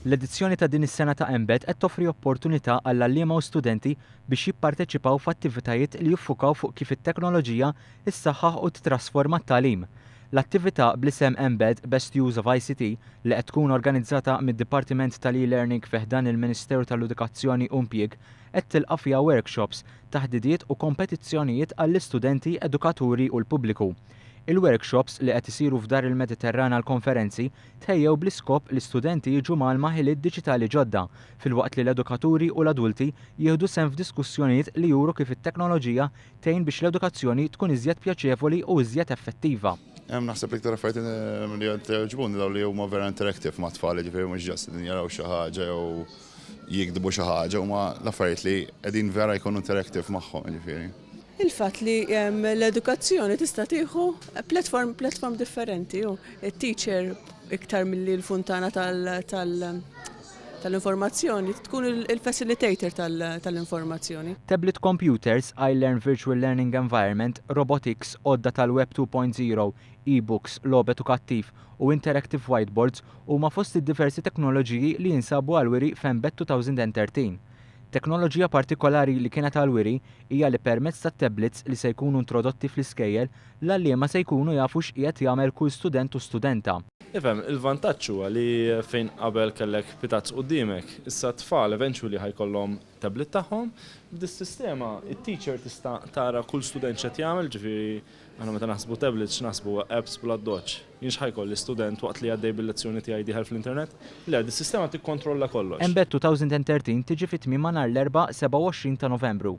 L-edizzjoni ta' din is-sena ta' Embed qed toffri opportunità għall-għalliema u studenti biex jipparteċipaw f'attivitajiet li jiffukaw fuq kif it-teknoloġija ssaħħaħ u tittrasforma t-tagħlim. L-attività bl-isem Embed, Best Use of ICT, li qed tkun organizzata mid-Dipartiment tal-eLearning fi ħdan il-Ministeru tal-Edukazzjoni u Impjieg qed tilqa' fiha workshops, taħdidiet u kompetizzjonijiet għall-istudenti, edukaturi u l-pubbliku. Il-workshops li qed isiru f'Dar il-Mediterran għall-konferenzi tħejjew bl-iskop li studenti jiġu mgħallma ħiliet diġitali ġodda filwaqt li l-edukaturi u l-adulti jieħdu sehem f'diskussjonijiet li juru kif it-teknoloġija tgħin biex l-edukazzjoni tkun iżjed pjaċevoli u iżjed effettiva. Hemm naħseb l-iktar affarijiet ehm, li qed jogħġbuni dawn li huma vera interactive ma' tfal, jiġifieri mhux ġast li jaraw xi ħaġa jew jiktbu xi ħaġa, huma l-affarijiet li qegħdin vera jkunu interactive magħhom, jiġifieri. Il-fatt li l-edukazzjoni tista' tieħu platform platform differenti u t-teacher iktar milli l-funtana tal-informazzjoni tkun il-facilitator tal-informazzjoni. Tablet computers, iLearn virtual learning environment, robotics, għodda tal-Web 2.0, e-books, logħob edukattiv, u interactive whiteboards huma fost id-diversi teknoloġiji li jinsabu għall-wiri f'Embed 2013. Teknoloġija partikolari li kienet għall-wiri hija li permezz tat-tablets li se jkunu introdotti fl-iskejjel, l-għalliema se jkunu jafu x'qiegħed jagħmel kull student u studenta. Ifhem, il-vantaġġ huwa li fejn qabel kellek pitazz quddiemek, issa t-tfal eventually ħa jkollhom tablet tagħhom. B'dis-sistema, it-teacher tista' tara kull student x'qed jagħmel, ġifieri, Aħna meta naħsbu tablets x'naħsbu? Apps bl-addoċċ. Jien x'ħa jkolli, student waqt li għaddej bil-lezzjoni tiegħi dieħel fl-internet? Le, dis-sistema tikkontrolla kollox. Mbagħad 2013 tiġi fi tmiemha nhar l-Erbgħa 27 ta' Novembru.